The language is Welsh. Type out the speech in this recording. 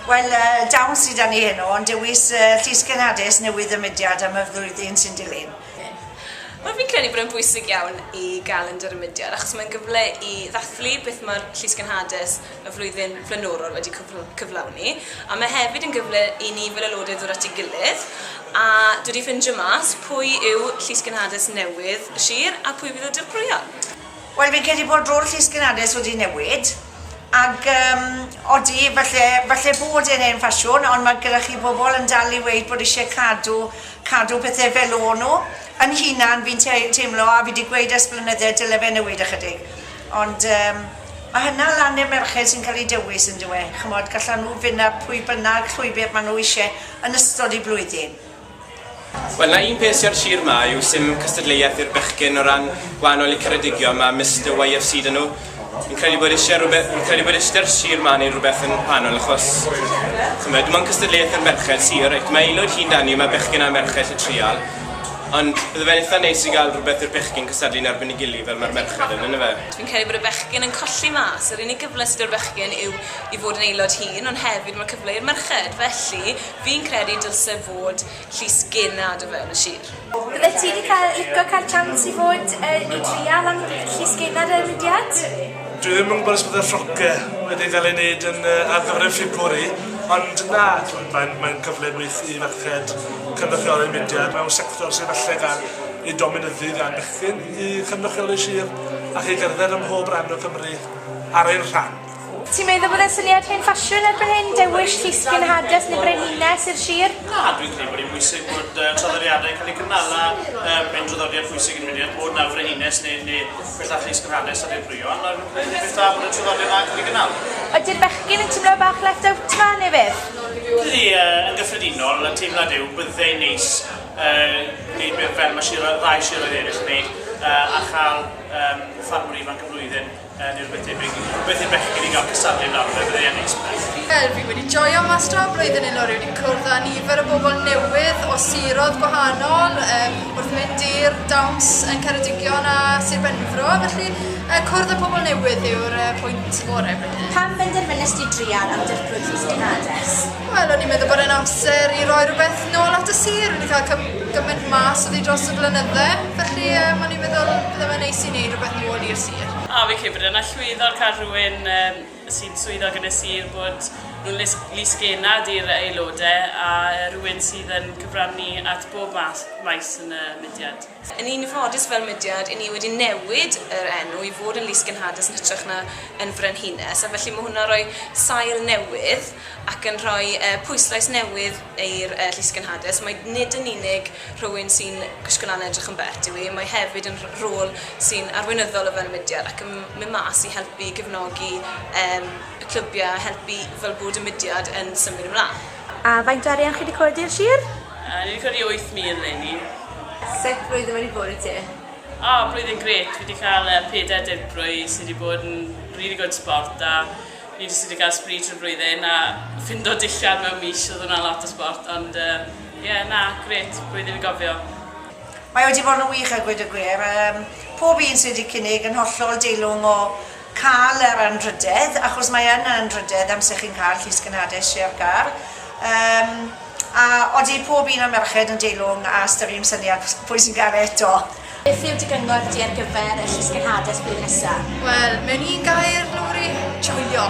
Wel, yy, dawn sydd â ni heno, ond dewis yy, Llys Genhadus newydd y mudiad am y flwyddyn sy'n dilyn. Wel, fi'n credu bod e'n bwysig iawn i gael yn yr mudiad, achos mae'n gyfle i ddathlu beth mae'r Llys Genhadus y flwyddyn flaenorol wedi cyflawni, a mae hefyd yn gyfle i ni fel aelodau ddod at ei gilydd, a dod i ffeindio mas pwy yw Llys Genhadus newydd y sir a pwy fydd y dirprwyon. Wel, fi'n credu bod rôl Llys Genhadus wedi newid. Ac yym, odi, falle, falle bod e'n hen ffasiwn, ond mae gyda chi bobl yn dal i weud bod isie cadw, cadw pethe fel o' nhw. Yn hunan, fi'n tei- teimlo, a fi 'di gweud ers blynydde, dyle fe newid ychydig. Ond yym, mae hynna lan i'r merched sy'n cael eu dewis, yndyw e? Ch'mod, gallan nhw fyn' ar pwy bynnag llwybr ma' nhw isie yn ystod eu blwyddyn. Wel, 'na un peth sy' ar sir 'ma yw 'sdim cystadleuaeth i'r bechgyn o ran gwahanol le Ceredigion, ma' Mister YFC 'da nhw. Fi'n credu bod isie rwbe- fi'n credu bod isie 'da'r sir 'ma neud rwbeth yn wahanol achos ch'mod dim ond cystadleuaeth i'r merched sy reit ma' Aelwyd hŷn 'da ni ma' bechgyn a merched 'llu trial ond bydde fe'n itha neis i ga'l rwbeth i'r bechgyn cystadlu yn erbyn ei gily fel ma'r merched yn yndyfe? Fi'n credu bod y bechgyn yn colli mas yr unig gyfle sy' 'da'r bechgyn yw i fod yn Aelod hŷn ond hefyd ma' cyfle i'r merched felly Fi'n credu dylse fod llys genad o fewn y sir. Byddet ti 'di cael lico cael chance i fod yy i drial am llys genad y mudiad? Dwi ddim yn gwybod os byddai'r rhoce wedi cael ei wneud yn yy ar gyfer y Ffiwbwri ond na t'mod mae'n mae'n cyfle gwych i ferched cynrychioli'r mudiad mewn sector sydd falle gan ei dominyddu gan bechgyn i cynrychioli sir ac i gerdded ym mhob ran o Cymru ar ein rhan. Ti'n meddwl bod e'n syniad hen ffasiwn erbyn hyn, dewis llusgyn hades neu frenhines i'r sir? Na, dwi'n credu bod hi'n bwysig bod traddodiadau yn cael eu cynnal a mae'n draddodiad pwysig i'r mudiad bod 'na frenhines neu bethau llusgyn hades ar ddirprwyon a mae'n beth da bod y traddodiad 'na yn cael ei gynnal. Ydi'r bechgyn yn teimlo bach left out 'ma neu beth? Ydy, yn gyffredinol, y teimlad yw byddai'n neis gwneud fel mae ddau siroedd eraill yn gwneud a chael ffarmwr ifanc y flwyddyn. Yn yr wythfed rwy'n i'n rhywbeth i'r bechgyn i gael cystadlu nawr, fe fyddai e'n neis byth. Wel, fi wedi joio mas dra blwyddyn hyn o rwy'n i'n cwrdd â nifer o bobl newydd o siroedd gwahanol um, wrth mynd i'r dawns yn Ceredigion a Sir Benfro, felly uh, cwrdd â pobl newydd yw'r uh, pwynt gorau blwyddyn. Pam benderfynes di drial am dirprwy Llys Genades? Wel, o'n i'n meddwl bod e'n amser i roi rhywbeth nôl at y sir, wedi cael cym gymaint mas o ddi dros y blynydde, felly um, o'n i'n meddwl bod e'n neis i wneud rhywbeth nôl i'r sir. A fi'n credu bod e'n allweddol cael rhywun yym sy'n swyddog yn y sir bod nhw'n lys- lys-genad i'r aelodau a rhywun sydd yn cyfrannu at bob math maes yn y mudiad. Yn un ffodus fel mudiad i ni wedi newid yr enw i fod yn lys-genhadus yn hytrach na yn frenhines a felly mae hwnna'n rhoi sail newydd ac yn rhoi yy pwyslais newydd i'r yy llys-genhadus. Mae nid yn unig Rhywun sy'n gwisgo lan a edrych yn bet yw hi. Mae hefyd yn rôl sy'n arweinyddol o fewn y mudiad ac yn mynd mas i helpu i gefnogi y clybiau a helpu fel bod y mudiad yn symud ymlaen. A faint o arian chi wedi codi i'r sir? Yy ni wedi codi 8,000 leni. Sut flwyddyn wedi bod i ti? O, blwyddyn grêt, fi wedi cael yy pedair dirprwy sy wedi bod yn rili gwd sbort a fi jyst wedi cael spree trwy'r flwyddyn a ffindo dillad mewn mis, oedd hwnna'n lot o sbort ond yy Ie, na, grêt, blwyddyn i gofio. Mae wedi bod yn wych a gweud y gwir. Yym, pob un sydd wedi cynnig yn hollol deilwng o cael yr anrhydedd, achos mae yn anrhydedd amser chi'n cael llys gynhadus, share car. Yym, a odi pob un o'r merched yn deilwng a ystyriwn syniad pwy sy'n cael e eto? Beth yw dy gyngor di ar gyfer y llys gynhadus blwyddyn nesa? Wel, mewn un gair, Lowri, joio!